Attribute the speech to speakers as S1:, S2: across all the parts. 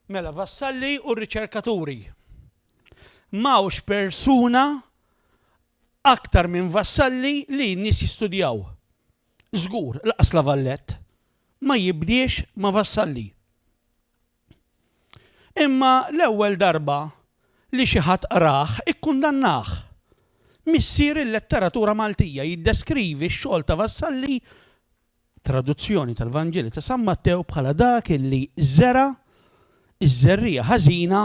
S1: Mela, vassalli u riċerkaturi. M'hawnx persuna aktar minn vassalli li n-nies jistudjaw. Żgur, laqas la Vallett ma jibdiex ma' vassalli. Imma l-ewwel darba li xi ħadd qrah ikkundannah. Missier il-letteratura Maltija jiddeskrivi x-xogħol ta' Vassalli traduzzjoni tal-Vanġelu ta' San Mattew bħala dak li żera' ż-żerriegħa ħażina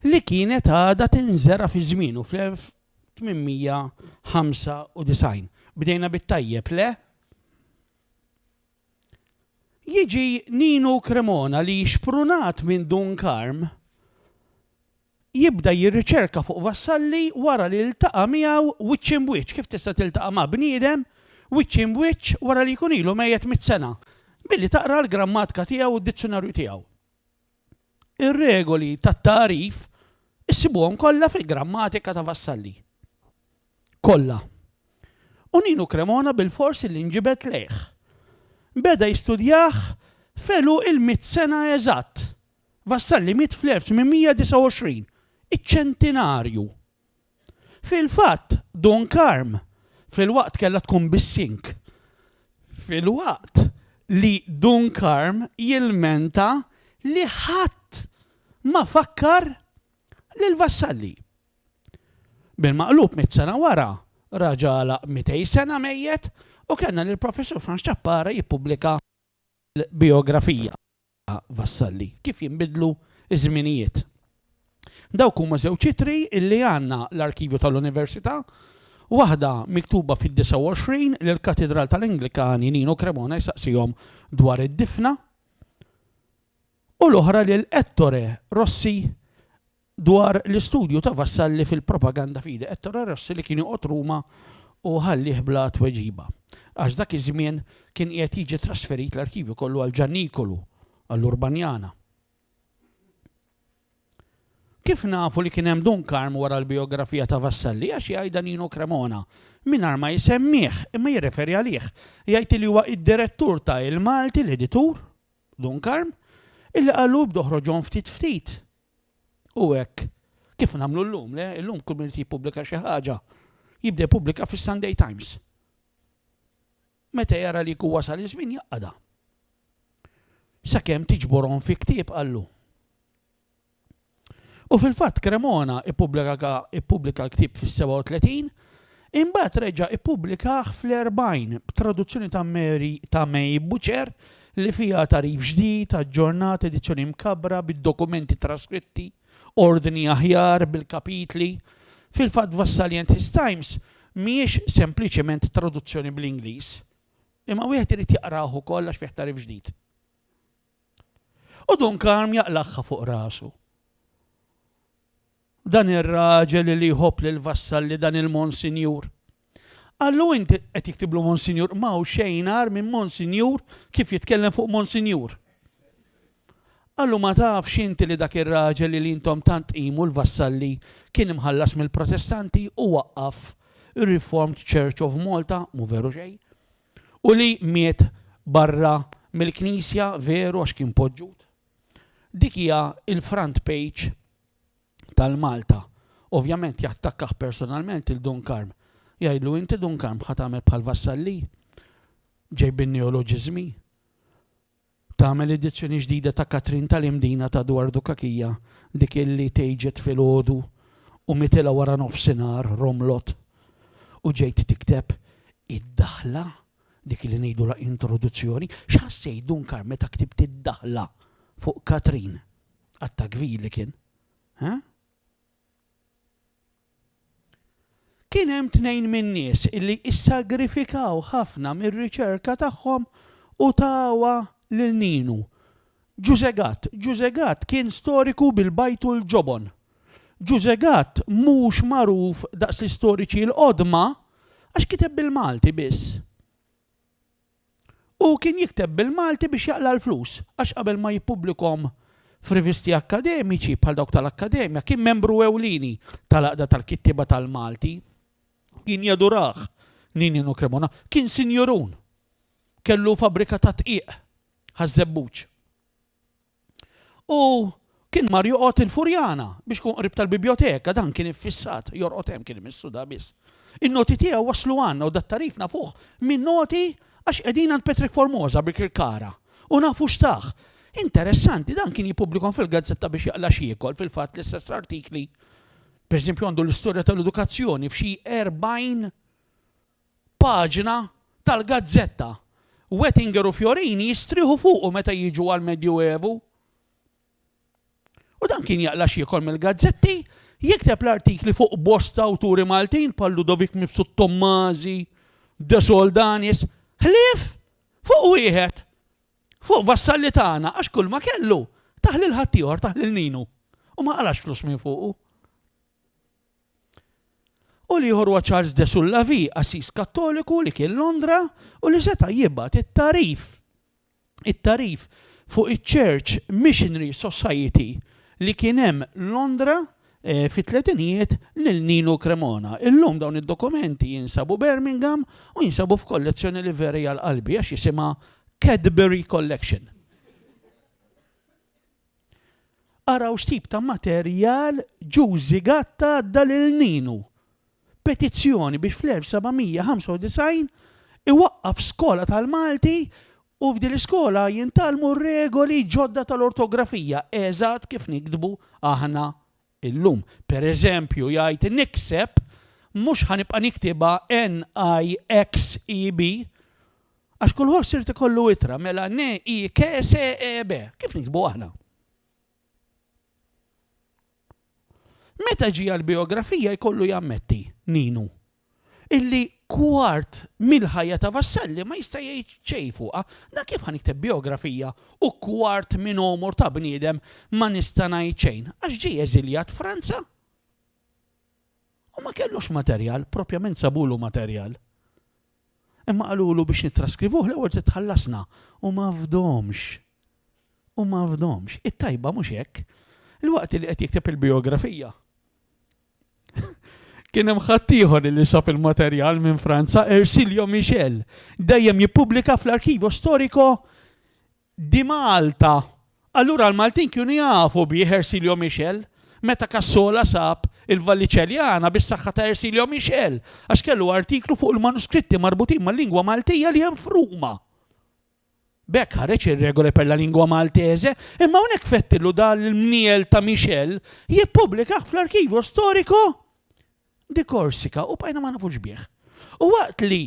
S1: li kienet għadha tinżera' fi żmienu fl-1895. Bdejna bit-tajjeb, le? Jiġi Ninu Cremona li xprunat minn Dun Karm jibda jirriċerka fuq Vassalli wara li ltaqa' miegħu wiċċ imb'wiċċ, kif tista' tiltaqa' ma' bniedem wiċċ imb'wiċċ wara li jkun ilu mejjet mitt sena, billi taqra l-grammatka tiegħu u d-dizzjunarju tiegħu. Ir-regoli tat-tagħrif issibuhom kollha fil-grammatika ta' Vassalli. Kollha. U Ninu Cremona bilfors illi nġibed lejh. Beda jistudjah f'għeluq il-mitt sena eżatt, Vassalli miet fl-1829, iċ-ċentinarju. Fil-fatt, Dun Karm filwaqt kellha tkun bis-sink. Filwaqt li Dun Karm jilmenta li ħadd ma fakkar lil Vassalli. Bil-maqlub mitt sena wara, raġa' għalaq mitej sena mejjet u kellna lill-Professur Frans Ciappara jippubblika l-bijografija. A. Vassalli, Kif jinbidlu ż-żminijiet. Dawk huma żewġ ittri li għandna l-arkivju tal-Università, waħda miktuba fid-29 lill-Katidral tal-Anglikani Nino Cremona jsaqsihom dwar id-difna u l-oħra lil Ettore Rossi Dwar l-istudju ta' Vassalli fil-propaganda f'idi Ettore Rossi li kien joqgħod Ruma u ħallieh bla tweġiba. Għax dak iż-żmien kien qiegħed jiġi trasferit l-arkivju kollu għal Ġannikolu, għall-Urbanjana. Kif nafu li kien hemm Dun Karm wara l-bijografija ta' Vassalli għax jgħidha Nino Cremona, mingħajr ma jsemmih, imma jirreferi għalih. Jgħid li huwa id-direttur ta' Il-Malti, l-editur, Dun Karm, illi qallu ibdu oħroġhom ftit ftit Hu hekk kif nagħmlu llum, le? Illum kull min irid jippubblika xi ħaġa, jibda jippubblika fis-Sunday Times. Meta jara li jkun wasal iż-żmien jaqgħadha. Sakemm tiġborhom fi ktieb qallu. U fil-fatt Cremona ippubblika l-ktieb fis-37 Imbagħad reġa' ppubblikah fl-40, b'traduzzjoni ta' Mary ta' May Butcher, li fiha tagħrif ġdid, aġġornat, edizzjoni mkabbra, bid-dokumenti traskritti, ordni aħjar, bil-kapitli. Fil-fatt Vassalient His Times mhijiex sempliċement traduzzjoni bl-Ingliż, imma wieħed irid jaqrah ukoll għax fih tagħrif ġdid. U Dun Karm jaqlagħha fuq rasu. Dan ir-raġel li jħobb lill-vassalli dan il-Monsinjur. Qallu int qed jiktiblu Monsinjur, ma hawn xejn agħar minn Monsinjur kif jitkellem fuq Monsinjur. Qallu ma tafx inti li dak ir-raġel li intom tant tqimu l-vassalli kien imħallas mill-Protestanti u waqqaf ir-Reformed Church of Malta, mhu veru xejn, u li miet barra mill-Knisja veru għax kien poġġut. Dik hija l-front page tal-Malta. Ovvjament jattakkah personalment il Dun Karm. Jgħidlu inti Dun Karm ħa tagħmel bħal Vassalli? Ġejbin neoloġiżmi? Tagħmel edizzjoni ġdida ta' Katrin tal-Imdina ta' Edward Dukakija dik illi tgħiġet filgħodu u mitilha wara nofsinhar romlot u ġejt tikteb id-daħla dik li ngħidulha introduzzjoni, x'ħassejt Dun Karm meta ktibt id-daħla fuq Katrin? Għatta kbir li kien. Ha? Kien hemm tnejn min-nies illi issagrifikaw ħafna mir-riċerka tagħhom u tawa lil ninu. Ġużegat, Ġużegat kien storiku bil-bajtu l-ġobon. Ġużegat mhux magħruf daqs l-istoriċi l-qodma għax kiteb bil-Malti biss. Hu kien jikteb bil-Malti biex jaqla' l-flus, għax qabel ma jippubblikhom f'rivisti akkademiċi bħal dawk tal-Akkademja, kien membru ewlieni tal-Għaqda tal-Kittieba tal-Malti. Kien jadurah Ninino Cremona. Kien sinjurun. Kellu fabbrika tad-dqiq, Ħaż-Żebbuġ. U kien mar joqgħod il-Furjana biex ikun qrib tal-Bibjoteka, dan kien iffissat, jorqod hemm kien imissu da biss. In-noti tiegħu waslu għandna u dat-tagħrif nafuh minn noti għax qegħdin għand Patrick Formosa Birkirkara u nafu x'tah. Interessanti, dan kien jippubblikhom fil-gazzetta biex jaqla' x'jiekol, fil-fatt l-istess artikli, pereżempju għandu l-istorja tal-edukazzjoni f'xi 40 paġna tal-gazzetta. Wettinger u Fiorini jistrieħu fuqu meta jiġu għall-Medjuevu. U dan kien jaqla' x'jiekol mill-gazzetti, jikteb l-artikli fuq bosta awturi Maltin bħal Ludovic Mifsud Tommasi, De Soldanis, ħlief fuq wieħed, fuq Vassalli tagħna għax kulma kellu tah lil ħaddieħor, tah lil Ninu. U ma qalax flus minn fuqu. u l-ieħor huwa Charles de Soulavie, qassis Kattoliku li kien Londra u li seta' jibgħat it-tagħrif it-tagħrif fuq iċ-Church Missionary Society li kien hemm Londra fit-tletinijiet lil Nino Cremona. Illum dawn id-dokumenti jinsabu Birmingham u jinsabu f'kollezzjoni li vera hija għal qalbi għax jisimha Cadbury Collection. Araw x'tip ta' materjal Ġużi Gatta għadda lil Ninu, Petizzjoni biex fl-1795 iwaqqaf skola tal-Malti u f'din l-iskola jintgħallmu r-regoli ġodda tal-ortografija eżatt kif niktbu aħna Illum, pereżempju, jgħid nikseb, mhux ħa nibqa' niktibha NIXEB, għax kull ħoss irid ikollu ittra, mela NIKSEB, kif niktbu aħna? Meta ġie għall-bijografija jkollu jammetti, Ninu, illi kwart mill-ħajja ta' Vassalli ma jista' jgħid xejn fuqha, na kif ħa nikteb bijografija u kwart minn għomor ta' bniedem ma nista' ngħid xejn, għax ġie eżiljat Franza u ma kellux materjal, propjament sabulu materjal. Imma qalulu biex nittraskrivuh l-ewwel trid tħallasna u ma fdomx. U ma fdomx. It-tajba mhux hekk. Ilwaqt li qed jikteb il-bijografija, Kien hemm ħaddieħor li sab il-materjal minn Franza, Ersilio Michel, dejjem jippubblika fl-Arkivo Storico di Malta. Allura l-Maltin kienu jafu bih Ersilio Michel. Meta Kassola sab il-Valliċeljana bis-saħħa ta' Ersilio Michel, għax kellu artiklu fuq il-manuskritti marbutin mal-lingwa Maltija li hemm f'Ruma. B'hekk ħareġ ir-regoli per la lingua maltese, imma hawnhekk Fettillu da l-mniel ta' Michel jippubblikah fl-Archivio Storico di Corsica u bqajna ma nafux bih. U waqt li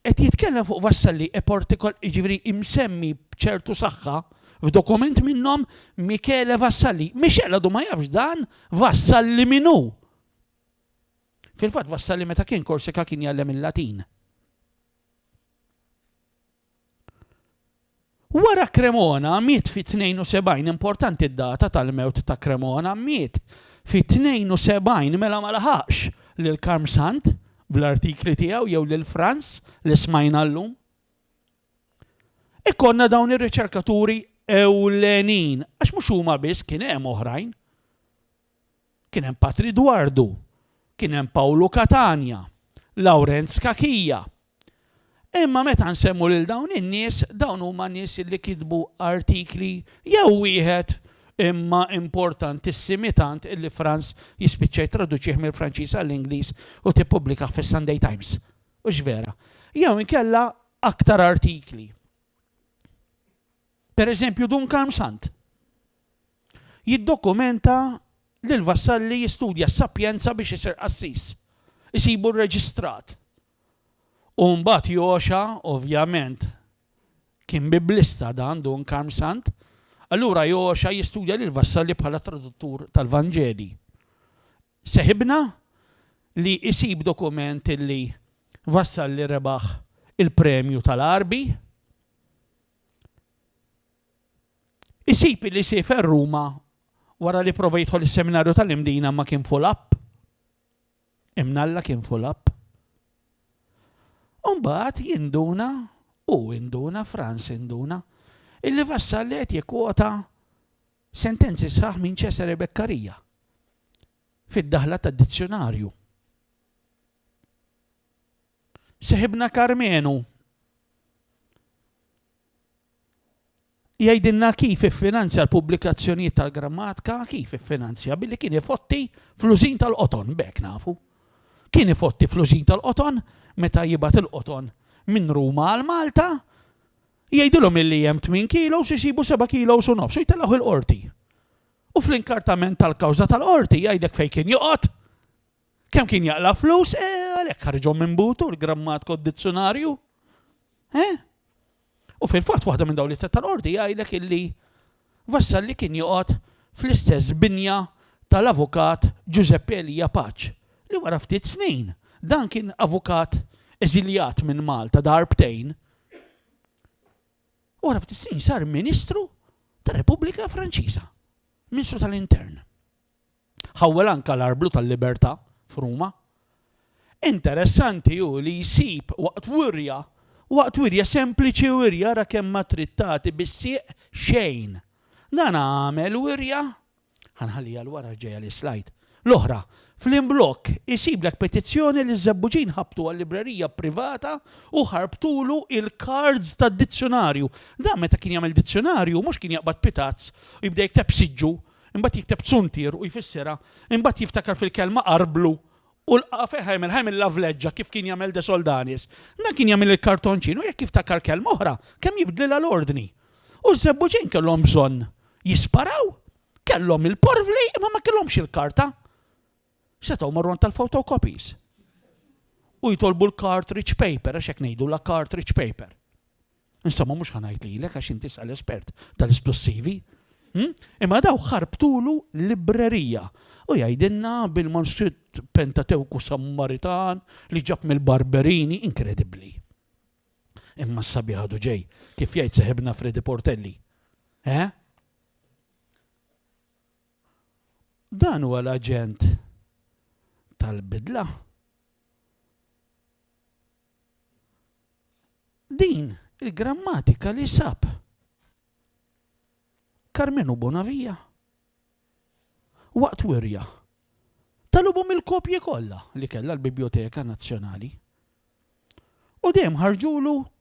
S1: qed jitkellem fuq Vassalli e portico jiġifieri imsemmi b'ċertu saħħa f'dokument minnhom Michele Vassalli, Michel għadu ma jafx dan Vassalli min hu! Fil-fatt Vassalli meta kien Corsica kien jgħallem il-Latin. Wara Cremona miet fi 72 importanti d-data tal-mewt ta' Cremona miet fi 72 mela ma laħaqx lil Karm Sant bl-artikli tiegħu jew lil Frans li smajna llum. Ikollna dawn ir-riċerkaturi ewlenin għax mhux huma biss kien hemm oħrajn. Kien hemm Patri Dwardu, kien hemm Pawlu Catania, Lawrenz Cachia. Imma meta nsemmu lil dawn in-nies, dawn huma nies li kitbu artikli jew wieħed imma importantissimi tant illi Frans jispiċċa jittraduċih mill-Franċiż għall-Ingliż u tippubblikah fis-Sunday Times. Hux vera? Jew inkella aktar artikli. Pereżempju, Dun Karm Sant jiddokumenta li l-Vassalli jistudja s-Sapienza biex isir qassis, isibu rreġistrat, u mbagħad jogħoxha, ovvjament kien Biblista dan Dun Karm Sant, allura jogħoxha jistudja lill-Vassalli bħala traduttur tal-Vanġeli. Seħibna li jsib dokument illi Vassalli rebaħ il-premju tal-Għarbi, Isib li siefer Ruma wara li prova jidħol is-seminarju tal-Imdina ma kien full up. Imnalla kien full up. Umbat jinduna u induna Franz induna illi vassal li qed jikkwota sentenzi sħaħ minn Cesare Beccaria fid-daħla tad-dizzjonarju. Seħibna Karmenu jgħidilna kif iffinanzja l-pubblikazzjonijiet tal-grammatika, kif iffinanzja billi kien ifotti flużin tal-qoton, bek nafu. Kien ifotti flużin tal-qoton meta jibat il-qoton minn Ruma għal Malta, jgħidilhom illi hemm 8 kilo u jsibu 7 kilo u nofs u jtellgħu il-qorti. U fl-inkartament tal-kawża tal-qorti jgħidlek fejn kien joqgħod. Kemm kien jaqla' flus, e, għalhekk ħarġhom minn butu l-grammatko d-dizzjonarju. E? U fil-fatt waħda minn dawn li tal-qorti jgħidlek illi Vassalli kien joqgħod fl-istess binja tal-avukat Giuseppe Elia Paċ li wara ftit snin dan kien avukat eżiljat minn Malta darbtejn. Wara ftit snin sar Ministru tar-Repubblika Franċiża, Ministru tal-Intern. Ħawwel anke l-Arblu tal-Libertà f'Ruma. Interessanti hu li jsib waqt wirja, waqt wirja sempliċi wirja ara kemm ma trid tagħti bis-sieq xejn. Dan għamel wirja, ħa nħalli għal wara ġejja l-islajd, l-oħra, fl-imblokk isiblek petizzjoni li ż-Żebbuġin ħabtu għal-librerija privata u ħarbtulu il-cards tad-dizzjunarju. Dan meta kien jagħmel dizzjunarju mhux kien jaqbad pitazz u jibda jikteb siġġu Imbagħad jikteb zuntier u jfissirha, imbagħad jiftakar fil-kelma arblu u lqagħha fejn ħa jagħmilha, ħa jagħmilha vleġġa kif kien jagħmel De Soldanis. Dan kien jagħmel il-kartonċin u jekk jiftakar kelma oħra, kemm jibdlilha l-ordni. U ż-żebbuġin kellhom bżonn jisparaw, kellhom il-porvli imma ma kellhomx il-karta. setgħu marru għand tal-photocopies u jitolbu l-cartridge paper, għax hekk ngħidulha cartridge paper. Insomma mhux ħa ngħid lilek għax inti sa l-espert tal-isplussivi. Hm? Imma daw ħarbtulu librerija u jgħidilna bil-manskritt Pentatewku Sammaritan li ġab mill-Barberini inkredibbli. Imma s-sabi ħadu ġej, kif jgħid seħibna Fredi Portelli. Eh? Dan huwa l-aġent tal-bidla. Din il-grammatika li sab Karmenu Bonavija waqt wirja talubhom il-kopji kollha li kellha l-Bibjoteka Nazzjonali. U dejjem ħarġulu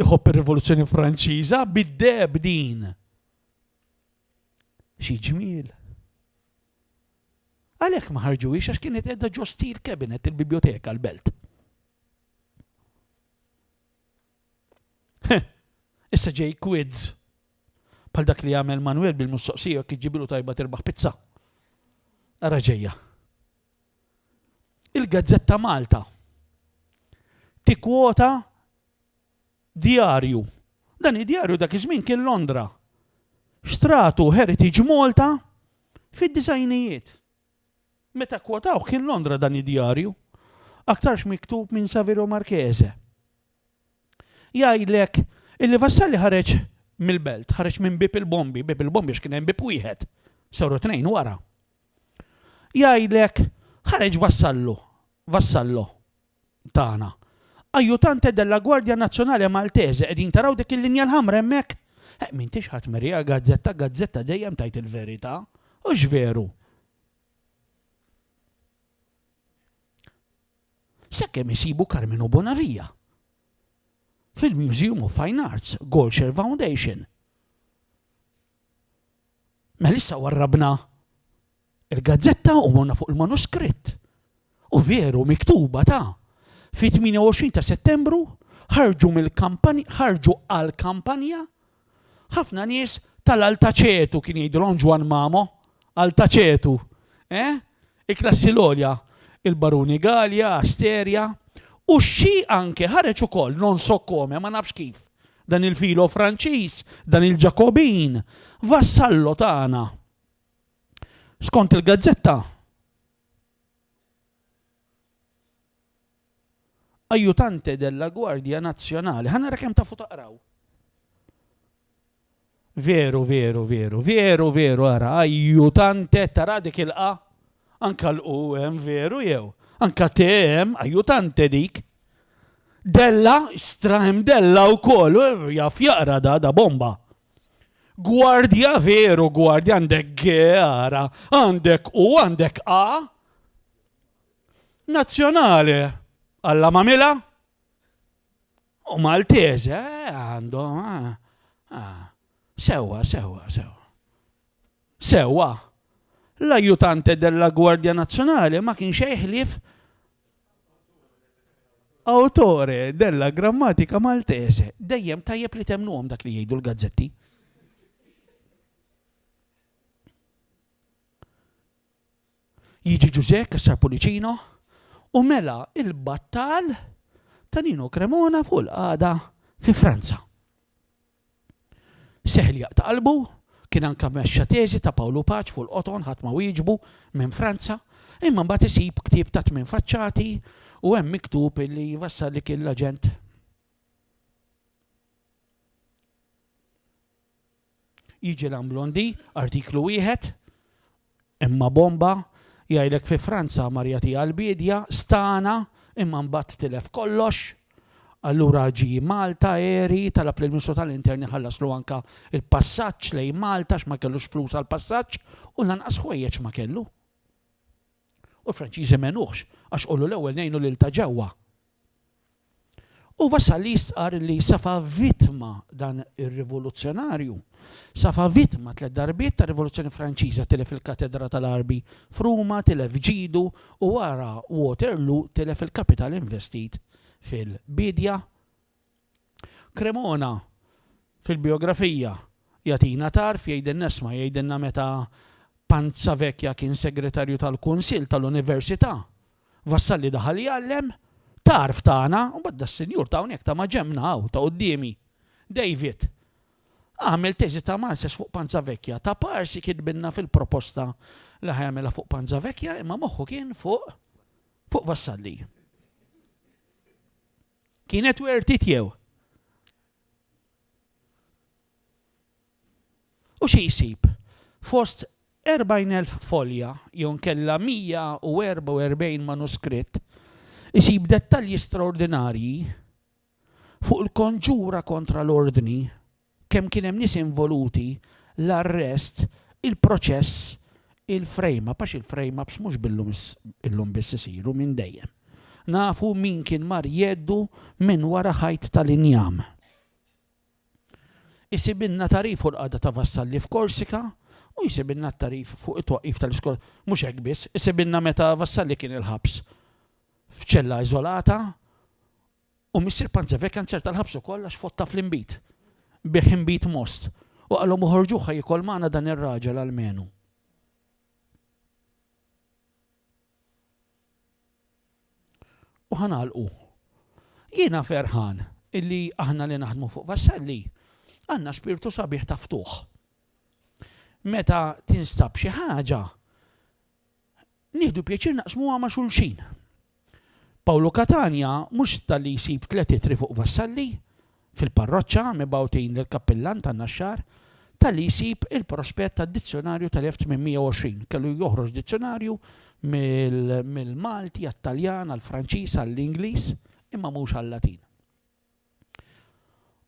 S1: iħobb ir-Rivoluzzjoni Franċiża, bid-deheb din. Xi ġmiel. Għalhekk ma ħarġuhiex għax kienet qiegħda ġo steel cabinet il-biblioteka l-belt. Issa ġej quids bħal dak li jagħmel Manuel bil-mistoqsija kif ġibilu tajba terbaħ pizza. Ara ġejja. Il-Gazzetta Malta tikkwota djarju. Dan id-djarju dak iż-żmien kien Londra. Xtratu Heritage Malta fid-disajnijiet. Meta kkwotawh kien Londra dan id-djarju. Aktarx miktub minn Saverio Marchese. Jgħidlek illi Vassalli ħareġ mill-belt, ħareġ minn Bieb il-Bombi, Bieb il-Bombi għax kien hemm bieb wieħed, saru tnejn wara. Jgħidlek ħareġ Vassallu, Vassallo tagħna. Ajutante della Guardia Nazionale Maltese, qegħdin taraw dik il-linja l-ħamra hemmhekk? Eh, m'intix ħadd merija gazzetta, gazzetta dejjem tajt il-verità, u x'veru. sakemm isibu Carmenu Bonavia fil-Museum of Fine Arts, Goldshare Foundation. Mela issa warrabna il-gazzetta u morna fuq il-manuskritt. U veru miktuba ta' fi 28 ta' Settembru ħarġu mill-kampanja ħarġu għal kampanja Ħafna nies tal-Altaċetu kien jgħidilhom Ġwann Mamo, Altaċetu, eh? Il-klassi l-għolja, il-Baruni Gallia, Asteria, u xi anke ħareġ ukoll non so come, ma nafx kif. Dan il-filo Franċiż, dan il-Ġakobin, vassallo tagħna. Skont il-gazzetta, Aiutante della Guardia Nazionale. Ħa nara kemm tafu taqraw. Veru, veru, veru, veru, veru, ara, aiutante, tara dik il-qa, anka l-u hemm veru jew, anka te hemm, aiutante dik. Della, stra hemm della u koll, jaf jaqra da, da bomba. Gwardja veru, gwardja għandek għara, għandek u għandek a. Nazzjonali, għalla mamila. U Maltese, eh, għandhom. Eh, eh. Sewa, sewa, sewa. Sewwa, l-Aiutante della Guardia Nazionale ma kienx xejn ħlief Autore della Grammatica Maltese. Dejjem tajjeb li temmnuhom dak li jgħidu l-gazzetti. Jiġi Ġużè Kassar Pulicino u mela il-battal ta' Nino Cremona fuq il-qagħda fi Franza. Seħħ li jaqta' qalbu, kien anke mexxa teżi ta' Pawl u Paċ fuq il-qoton, ħadd ma wieġbu minn Franza, imma mbagħad isib ktieb ta' tmien faċċati u hemm miktub li jvassar li kien l-aġent Jiġi Lamblondì, artiklu wieħed, Imma bomba, jgħidlek fi Franza marja tiegħu l-biedja, stagħna, imma mbagħad tilef kollox. Allura ġie Malta, għeri, talab lill-Ministru tal-Intern iħallaslu anke l-passaġġ lejn Malta għax ma kellux flus għall-passaġġ u lanqas ħwejjeġ ma kellu. U l-Franċiżi m'għenuhx għax qulu l-ewwel ngħinu lil ta' ġewwa. U Vassalli jistqarr li Safa vittma dan ir-rivoluzzjonarju. Safa vittma tliet darbiet tar-Rivoluzzjoni Franċiża, tilef il-Katedra tal-Arbi f'Ruma, tilef ġidu u wara Waterloo tilef il-kapital investit fil-biedja, Cremona fil-bijografija jagħtina tarf, jgħidilna isma' jgħidilna meta Panzavecchia kien segretarju tal-Kunsill tal-Università Vassalli daħal jgħallem, tarf tagħna, u mbagħad das-sinjur ta' hawnhekk ta' maġenbna hawn ta' quddiemi, David, għamel teżi ta' master's fuq Panzavecchia, ta' parsi kitbilna fil-proposta li ħa jagħmilha fuq Panzavecchia imma moħħu kien fuq fuq Vassalli. Kienet worth it jew? U xi jsib? Fost 40,000 folja jew inkella 144 manuskritt, isib dettalji straordinarji fuq il-konġura kontra l-Ordni, kemm kien hemm nies involuti, l-arrest, il-proċess, il-frame up, għax il-frame ups mhux billum illum biss isiru, minn dejjem. Nafu min kien mar jeddu minn wara ħajt tal-injam. Isibilna tarif fuq l-qagħda ta' Vassalli f'Korsika u jsibilna t-tarif fuq it-twaqqif tal-iskola. Mhux hekk biss, isibilna meta Vassalli kien il-ħabs f'ċella iżolata U missier Panzever kien serta l-ħabs ukoll għax fotta fl-inbid. Biegħ inbid most. U qalhom uħorġuh ħa jiekol magħna dan ir-raġel almenu. U ħa nagħlqu. Jiena ferħan illi aħna li naħdmu fuq Vassalli għandna spirtu sabiħ ta' ftuħ. Meta tinstab xi ħaġa, Nieħdu pjaċir naqsmuha ma' xulxin. Pawlu Catania mhux talli jsib tliet ittri fuq Vassalli, fil-parroċċa, mibgħutin lill-kappillan tan-Naxxar, talli jsib il-prospett tad-dizzjonarju tal-1820. Kellu joħroġ dizzjonarju mill-Malti għat-Taljan, għall-Franċiż, għall-Ingliż, imma mhux għal-Latin.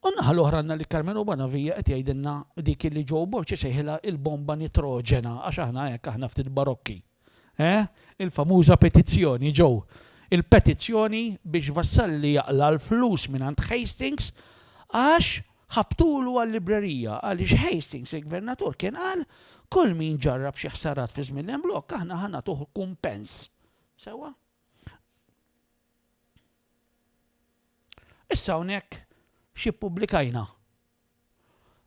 S1: U n-naħa l-oħra għandna lil Karmenu Bonavia qed jgħidilna dik li Joe Borg isejħilha il-bomba nitroġena għax aħna hekk aħna ftit barokki. Eh? Il-famuża petizzjoni, Joe. Il-petizzjoni biex Vassalli jaqla' l-flus mingħand Hastings għax ħabtulu għal-librerija għaliex Hastings il-Gvernatur kien qal kull min ġarrab xi ħsarat fi żmien l-imblokk aħna ħa nagħtuh kumpens. Sewwa? Issa hawnhekk xi ppubblikajna.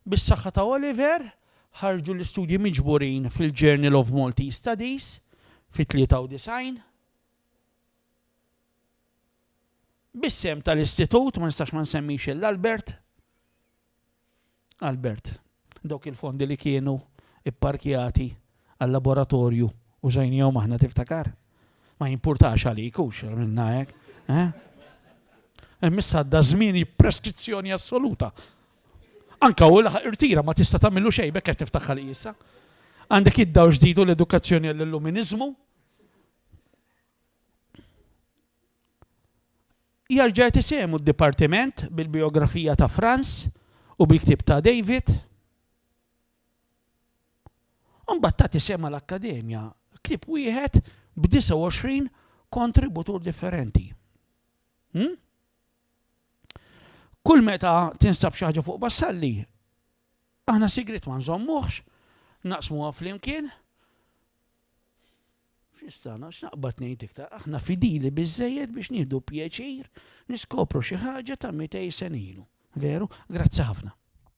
S1: Bis-saħħa ta' Oliver, ħarġu l-istudji miġburin fil-Journal of Maltese Studies fit-93. Bis-sehem tal-Istitut, ma nistax ma nsemmix il-Albert, Albert, Dawk il-fondi li kienu pparkjati għal-laboratorju użajnihom aħna tiftakar? Ma jimpurtax għalik hux għamilna hekk, eh? Hemm issa għadda żmien preskrizzjoni assoluta. Anka u laħaq irtira ma tista' tagħmillu xejn bekk qed niftakar li issa. Għandek id-dawl ġdidu l-edukazzjoni għall-illuminiżmu. Jarġa' jagħti sehmu d-dipartiment bil-bijografija ta' Franz u bil-ktieb ta' David. U mbagħad tagħti sehem mal-Akkademja, ktieb wieħed b' 29 kontributur differenti. Hm? Kull meta tinsab xi ħaġa fuq Vassalli, aħna sigriet ma nżommuhx, naqsmuha flimkien, X'nistana, x'naqbad ngħid iktar, aħna fidili biżżejjed biex nieħdu pjaċir niskopru xi ħaġa ta' mitej sen ilu. Veru? Grazzi ħafna.